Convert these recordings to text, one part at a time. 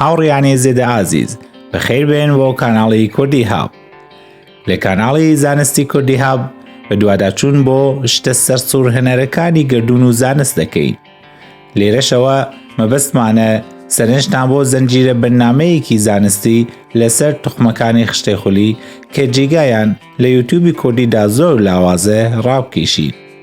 هاوڕیانی زێدە ئازیز بەخیر بێن بۆ کاناڵی کوردی هاو لە کاناڵی زانستی کوردی هاب بە دوواداچوون بۆ شتە سەر سوور هەنەرەکانی گردون و زانست دەکەین لێرەشەوە مەبەستمانە سەرنجتان بۆ زنجیرە بەرنمەیەکی زانستی لەسەر تخمەکانی خشتەی خولی کە جێگایان لە یوتیوبی کوردیدا زۆر لاوازە ڕاوکێشین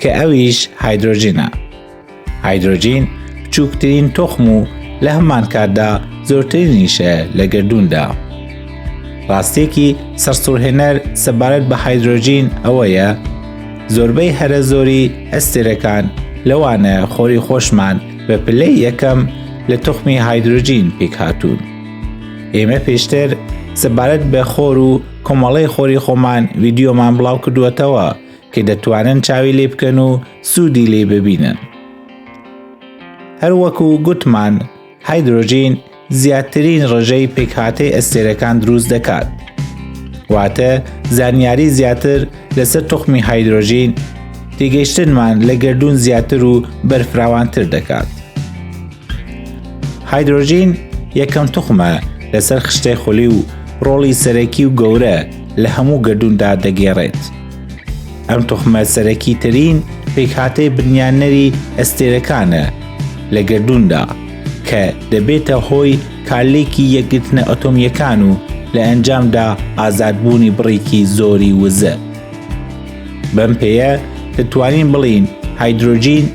کە ئەویش هایدرۆجینە هایدرۆجین بچووکترین تۆخم و لە هەمان کاتدا زۆرترینیشە لە گردووندا ڕاستێکی سەرسوڕهێنەر سەبارەت بە هایدرۆجین ئەوەیە زۆربەی هەرە زۆری ئەستێرەکان لەوانە خۆری خۆشمان بە پلەی یەکەم لە تخمی هایدروجین پێکهاتوون. ئێمە پێشتر سەبارەت بە خۆر و کۆمەڵی خۆری خۆمان ویددیۆمان بڵاو کردووەتەوە کە دەتوانن چاوی لێ بکەن و سوودی لێ ببینن. هەروەکو گوتمان هایدرۆژین زیاترین ڕژەی پێکهاتەی ئەستێرەکان دروست دەکات. واتە زانیاری زیاتر لەسەر تخمی هایدرۆژین تێگەیشتنمان لە گردون زیاتر و بەرفراوانتر دەکات. هایدرۆژین یەکەم تخمە لەسەر خشتەی خولی و ڕۆڵی سەرەکی و گەورە لە هەموو گردوندا دەگێڕێت. ئەم توخمە سەرەکی ترین پێکهاتەی بنیانەری ئەستێرەکانە لە گردووندا کە دەبێتە هۆی کارلێکی یەکگرتنە ئەتۆمیەکان و لە ئەنجامدا ئازادبوونی بڕێکی زۆری وزە بەم پێەیە دەتوانین بڵین هایدرۆجین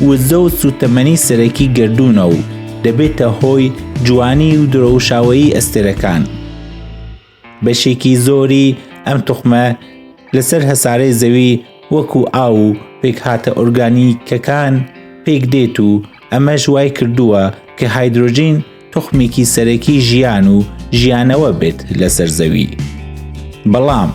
وزە و سوتەمەنی سەرەکی گردوونە و دەبێتە هۆی جوانی و درەوشاوەیی ئەستێرەکان. بەشێکی زۆری ئەم توخمە لەسەر هەسارەی زەوی وەکو ئاو و پێکهاتە ئۆرگانیکەکان پێک دێت و ئەمەش وای کردووە کە هایدرۆجین توخمێکی سەرەکی ژیان و ژیانەوە بێت لەسەر زەوی بەڵام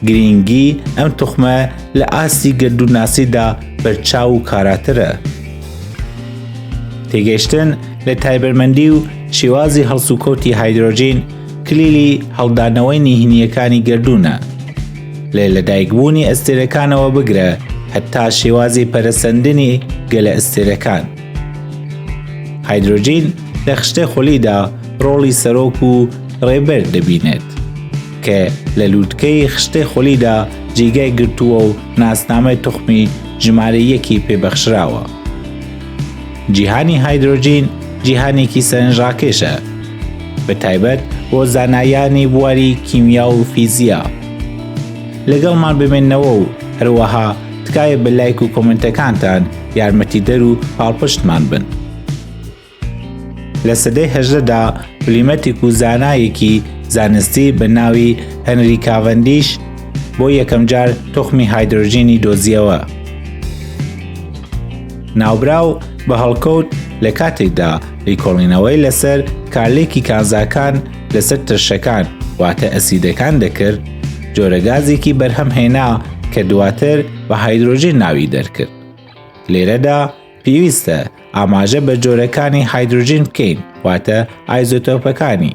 گرنگی ئەم توخمە لە ئاستی گردووناسیدا بەرچاو و کاراترە تێگەشتن لە تایبەرمەندی و شێوازی هەڵسوکەوتی هایدرۆجین کلیلی هەڵدانەوەی نیهنییەکانی گەردوونە لێ لە دایکبوونی ئەستێرەکانەوە بگرە هەتا شێوازی پەرەسەندنی گەلە ئەستێرەکان هایدروجین لە خشتە خولیدا ڕۆڵی سەرۆک و ڕێبەر دەبینێت کە لە لووتکەی خشتە خولیدا جێگای گرتووە و ناسنامەی تخمی ژمارە یەکی پێبەخشراوە. جیهانی هایدرۆجین جیهانێکی سەرنجڕاکێشە بە تایبەت بۆ زانایانی بواری کیمیا و فیزیا لەگەڵمان بمێنەوە و هەروەها تکایە بە لایک و کۆمنتەکانتان یارمەتی دەر و پاڵپشتمان بن لە سەدەی هەژدەدا پلیمەتێک و زانایەکی زانستی بە ناوی هەنری کاڤندیش بۆ یەکەم جار تخمی هایدرۆژینی دۆزیەوە ناوبراو بە هەڵکەوت لە کاتێکدا لیکۆڵینەوەی لەسەر کارلێکی کانزاکان لەسەر ترشەکان واتە ئەسیدەکان دەکرد جۆرەگازێکی بەرهەم هێنا کە دواتر بە هایدرۆژین ناوی دەرکرد لێرەدا پێویستە ئاماژە بە جۆرەکانی هایدروژین بکەین واتە ئایزۆتۆپەکانی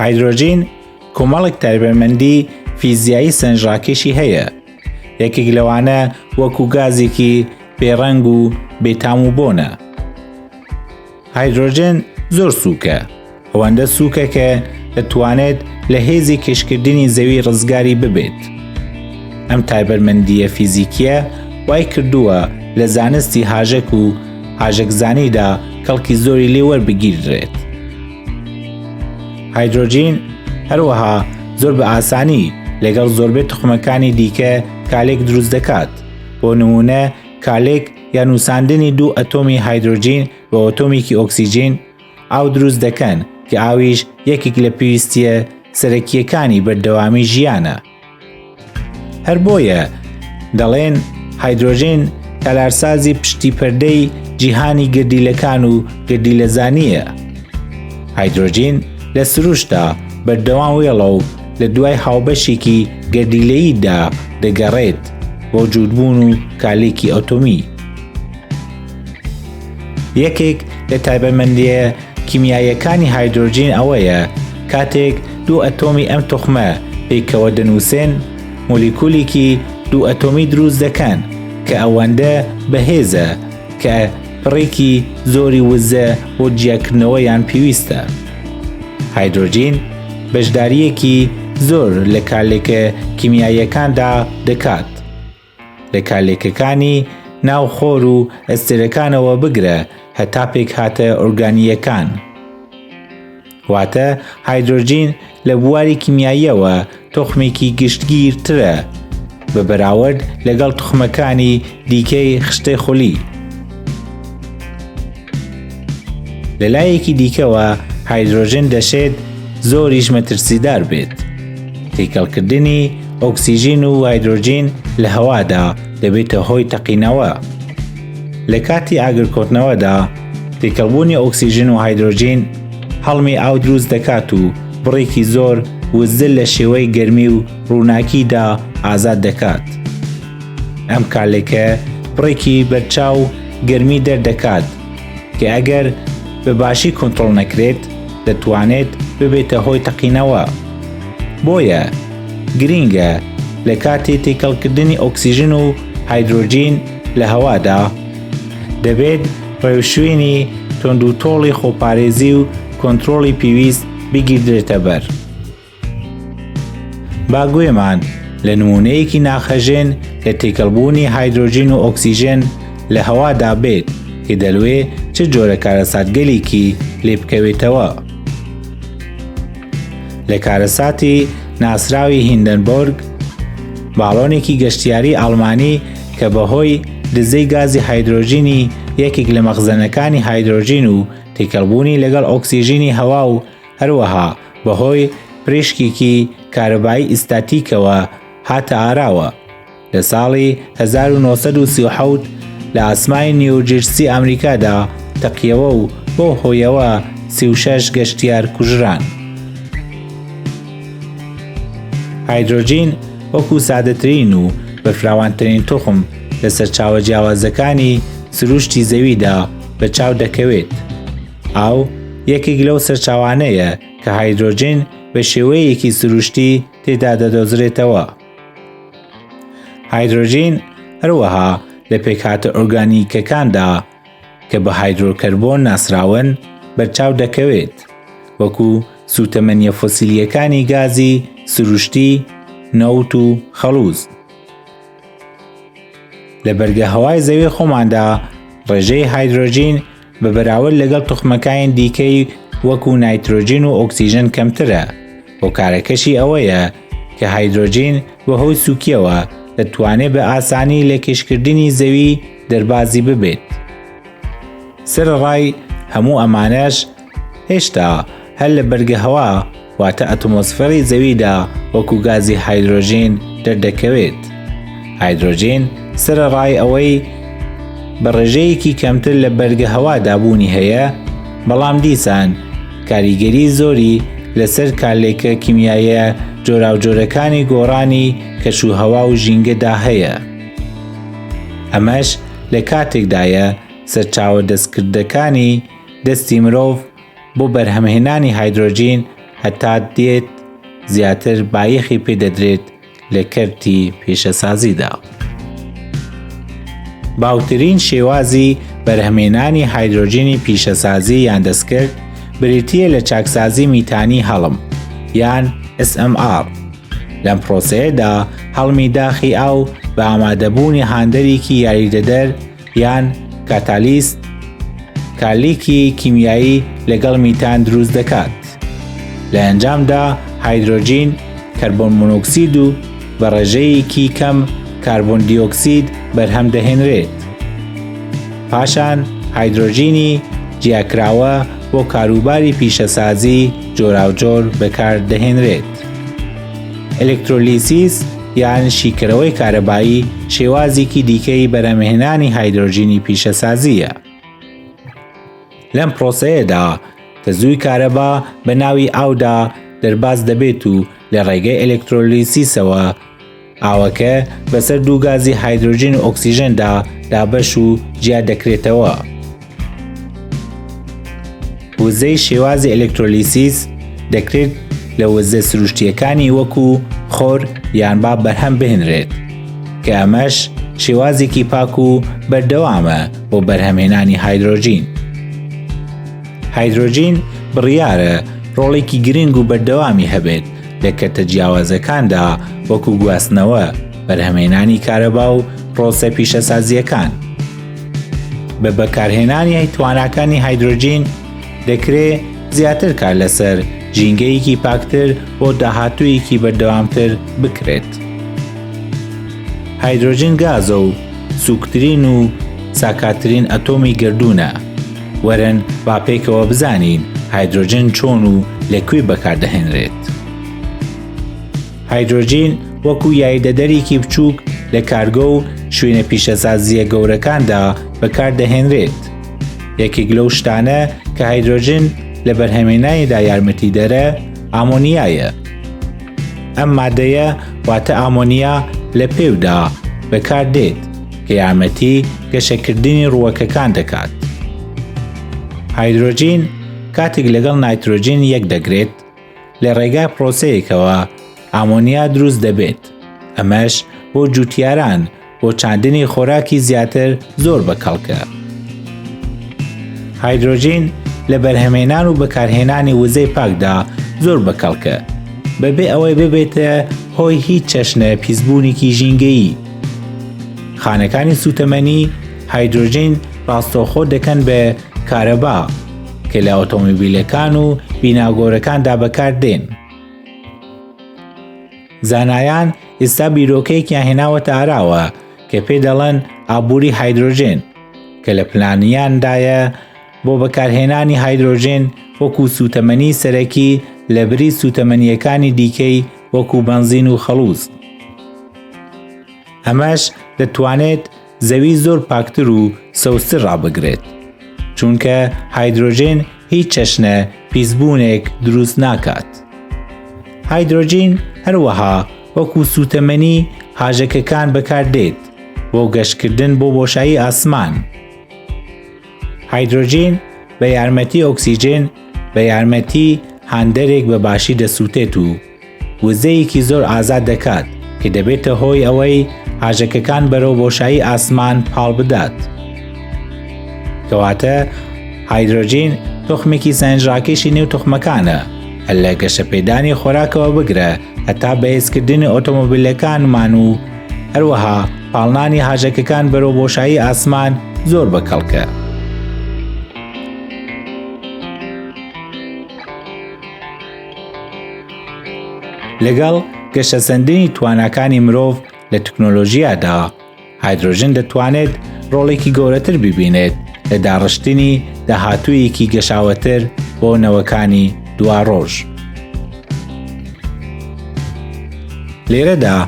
هایدرۆجین کۆمەڵێک تایبەتمەندی فیزیایی سنجڕاکێشی هەیە یەکێک لەوانە وەکو گازێکی بێڕەنگ و بێتام و بۆنە هایدرۆجن زۆر سووکە ئەوەندە سووکە کە دەتوانێت لە هێزی کشکردنی زەوی ڕزگاری ببێت ئەم تایبەرمەندیە فیزیکیە وای کردووە لە زانستی هاژەک و هاژەکزانیدا کەڵکی زۆری لێوەربگیردرێت هایدرۆجین هەروەها زۆر بە ئاسانی لەگەڵ زۆربەی تخمەکانی دیکە کالێک دروست دەکات بۆ نمونە کالێک یا نووساندنی دوو ئەتۆمی هایدرۆجین بە ئۆتۆمیکی ئۆکسسیجین ئاو دروست دەکەن کە ئاویش یەکێک لە پێویستیە سەرەکیەکانی بەردەوامی ژیانە هەر بۆیە دەڵێن هایدرۆژین تەلارسازی پشتی پەردەی جیهانی گردیلەکان و گردیلەزانیە هایدرۆژین لە سروشتا بەردەوام وێڵە و لە دوای هاوبەشێکی گەردیلەییدا دەگەڕێت بۆ جووتبوون و کالێکی ئەتۆمی یەکێک لە تایبەتمەندیە کیمیاییەکانی هایدرۆجین ئەوەیە کاتێک دوو ئەتۆمی ئەم تخمە پێکەوە دەنووسێن مۆلیکولێکی دوو ئەتۆمی دروست دەکەن کە ئەوەندە بەهێزە کە پڕێکی زۆری وزە بۆ جیاکردنەوە یان پێویستە هایدرۆجین بەشداریەکی زۆر لە کارلێکە کیمیاییەکاندا دەکات لە کالێکەکانی ناو خۆر و ئەستێرەکانەوە بگرە هەتا پێکهاتە ئۆرگانییەکان. واتە هایدرۆجین لە بواری کیمیاییەوە تۆخمێکی گشتگیرترە بە بەراورد لەگەڵ توخمەکانی دیکەی خشتەی خولی. لە لایەکی دیکەوە هایدرۆژن دەشێت زۆریش مەترسیدار بێت. تێکەڵکردنی ئۆکسسیژین و هایدرۆژین لە هەوادا دەبێتە هۆی تەقینەوە. لە کاتی ئاگرکۆتنەوەدا تێکەڵبوونی ئۆکسسیژن و هایدرۆژین هەڵمی ئاو دروست دەکات و بڕێکی زۆر وزە لە شێوەی گەرمی و ڕووناکیدا ئازاد دەکات. ئەم کالێکە بڕێکی بەرچاو گەرمی دەردەکات کە ئەگەر بە باشی کۆنتترۆل نەکرێت دەتوانێت ببێتە هۆی تەقینەوە بۆیە گرینگە لە کاتی تێکەڵکردنی ئۆکسسیژن و هایدرۆجین لە هەوادا دەبێت ڕێوشوێنی تۆند و تۆڵی خۆپارێزی و کۆنتترۆلی پێویست بگیردرێتە بەر. با گوێمان لە نموونەیەکی ناخهەژێن لە تێکەڵبوونی هایدرۆجین و ئۆکسیژێن لە هەوادا بێت کە دەلوێ چ جۆرە کارەساتگەلێکی لێ بکەوێتەوە. لە کارەساتی ناسراوی هیندەنبۆرگ باڵۆنێکی گەشتیاری ئاڵمانی کە بەهۆی دزەی گازی هایدرۆژینی یەکێک لە مەخزەنەکانی هایدرۆژین و تێکەڵبوونی لەگەڵ ئۆکسیژینی هەوا و هەروەها بەهۆی پریشکیکی کارەبایی ئیستاتیکەوە هاتە ئاراوە لە ساڵی 1970 لە ئاسمانی نیوجرسی ئەمریکادا تەقیەوە و بەو هۆیەوە 36 گەشتیار کوژران. هایدرۆجین وەکو سادەترین و بەرفراوانترین توخم لە سەرچاوە جیاوازەکانی سروشتی زەویدا بە چاو دەکەوێت، ئاو یەکێک لەو سەرچاوانەیە کە هایدرۆجین بە شێوەیەکی سروشتی تێدا دەدۆزرێتەوە. هایدرۆژین هەروەها لە پێکهاتە ئۆرگانیکەکاندا کە بە هایدرۆکەربۆن ناسراون بەرچاو دەکەوێت وەکو سوتەمەنیە فۆسیلیەکانی گازی سروشتی نەوت و خەڵوز. لە بەرگە هەوای زەوی خۆماندا ڕێژەی هایدرۆژین بە بەراورد لەگەڵ توخمەکانی دیکەی وەکو نایترۆجین و ئۆکسیژن کەمترە هۆکارەکەشی ئەوەیە کە هایدرۆجین بە هۆی سوکیەوە دەتوانێت بە ئاسانی لە کێشکردنی زەوی دەربازی ببێت سەرڕای هەموو ئەمانەش هێشتا هەر لە بەرگەهەوا واتە ئەتمۆسفێڕی زەویدا وەکو گازی هایدرۆژین دەردەکەوێت هایدرۆژین سەرەڕای ئەوەی بە ڕێژەیەکی کەمتر لە بەرگە هەوا دابوونی هەیە بەڵام دیسان کاریگەری زۆری لەسەر کارلێکە کیمیایە جۆراوجۆرەکانی گۆڕانی کەش و هەوا و ژینگەدا هەیە ئەمەش لە کاتێکدایە سەرچاوە دەستکردەکانی دەستی مرۆڤ بۆ بەرهەمهێنانی هایدرۆجین هەتا دێت زیاتر بایەخی پێدەدرێت لە کەرتی پیشەسازیدا. باوترین شێوازی بەرهەمێنانی هایدرۆجینی پیشەسازی یان دەستکرد بریتیە لە چاکسازی میتانی هەڵم یان SMR لەم پرۆسەیەدا هەڵمی داخی ئاو بە ئامادەبوونی هاندەرێکی یاریدەدەر یان کاتالیست کارلیکی کیمیایی لەگەڵ میتان دروست دەکات لە ئەنجامدا هایدرۆجین کەربۆن مونۆکسید و بە ڕێژەیەکی کەم کاربن دیۆکسید بەرهەم دەهێنرێت پاشان هایدرۆژینی جیاکراوە بۆ کاروباری پیشەسازی جۆراوجۆر بەکار دەهێنرێت ئەلکترۆلیسیس یان شیکەرەوەی کارەبایی شێوازێکی دیکەی بەرەمهێنانی هایدرۆژینی پیشەسازیە. لەم پرۆسەیەدا تەزووی کارەبا بە ناوی ئاودا دەرباز دەبێت و لە ڕێگەی ئەلکترۆلیسیسەوە ئاوەکە بەسەر دوو گازی هایدرۆژین و ئۆکسسیژندا دابەش و جیا دەکرێتەوە. وزەی شێوازی ئەلکترۆلیسیس دەکرێت لە وزە سروشتیەکانی وەکو خۆر یان با بەرهەم بهێنرێت کە ئەمەش شێوازێکی پاک و بەردەوامە بۆ بەرهەمهێنانی هایدرۆژین. هایدرۆژین بڕیارە ڕۆڵێکی گرنگ و بەردەوامی هەبێت لە کەتە جیاوازەکاندا وەکو گواستنەوە بەرهەمێنانی کارەبا و ڕۆسە پیشەسازیەکان. بە بەکارهێنانی تواناکانی هایدرۆجین دەکرێت زیاتر کار لەسەر ژینگەیەکی پاکتر بۆ داهاتوویەکی بەردەوامتر بکرێت. هایدرۆجین گازە و سوکترین و ساکاترین ئەتۆمی گردوونە. وەرن با پێکەوە بزانین هایدرۆجین چۆن و لە کوێ بەکاردەهێنرێت. هایدرۆجین وەکو یایدەدەرێکی بچووک لە کارگۆ و شوێنە پیشەسازیە گەورەکاندا بەکاردەهێنرێت. یەکێک لەو شتانە کە هایدرۆجین لە بەرهەمێنانیدا یارمەتی دەرە ئامۆنیایە. ئەم مادەیە واتە ئامۆنیا لە پێودا بەکاردێت کە یارمەتی گەشەکردنی ڕووەکەکان دەکات. هایدرۆجین کاتێک لەگەڵ نایترۆجین یەک دەگرێت لە ڕێگای پرۆسەیەکەوە ئامۆنیا دروست دەبێت ئەمەش بۆ جوتیاران بۆ چاندنی خۆراکی زیاتر زۆر بەکەڵکە هایدروۆژین لە بەرهەمێنان و بەکارهێنانی وزەی پاکدا زۆر بەکەڵکە بەبێ ئەوەی ببێتە هۆی هیچ چەشنە پیسبوونێکی ژینگەیی خانەکانی سوتەمەنی هایدروۆژین ڕاستەوخۆ دەکەن بە کارەبا کە لە ئۆتۆمبیلەکان و بیناگۆرەکاندا بەکاردێن. زانایان ئێستا بیرۆکەیەکیان هێناوەتە ئاراوە کە پێ دەڵێن ئابووری هایدرۆژێن کە لە پلانیاندایە بۆ بەکارهێنانی هایدرۆژێن وەکو سوتەمەنی سەرەکی لە بری سوتەمەنیەکانی دیکەی وەکو بەنزین و خەڵوز ئەمەش دەتوانێت زەوی زۆر پاکتر و سەوزتر ڕابگرێت چونکە هایدرۆژێن هیچ چەشنە پیسبوونێک دروست ناکات هایدرۆژین هەروەها وەکو سوتەمەنی هاژەکەکان بەکاردێت بۆ گەشتکردن بۆ بۆشایی ئاسمان هایدرۆژین بە یارمەتی ئۆکسسیژێن بە یارمەتی هاندەرێک بە باشی دەسووتێت و وزەیەکی زۆر ئازاد دەکات کە دەبێتە هۆی ئەوەی هاژەکەکان بەرەو بۆشایی ئاسمان پاڵ بدات. کەواتە هایدرۆجین تخمێکی سەنجڕاکێشی نێو تخمەکانە کە لە گەشەپێدانی خۆراکەوە بگرە هەتا بەهێزکردنی ئۆتۆمۆبیلەکانمان و هەروەها پاڵنانی هاژەکەکان بەرەو بۆشایی ئاسمان زۆر بە کەڵکە. لەگەڵ گەشەسەندنی تواناکانی مرۆڤ لە تەکنۆلۆژیادا هایدرۆژن دەتوانێت ڕۆڵێکی گەورەتر ببینێت لە داڕشتنی داهاتوویەکی گەشاوەتر بۆ نەوەکانی دوا ڕۆژ. لێرەدا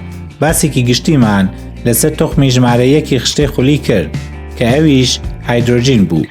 باسێکی گشتیمان لەسەر تخمی ژمارە یەکی خشتەی خولی کرد کە ئەویش هایدرۆژین بوو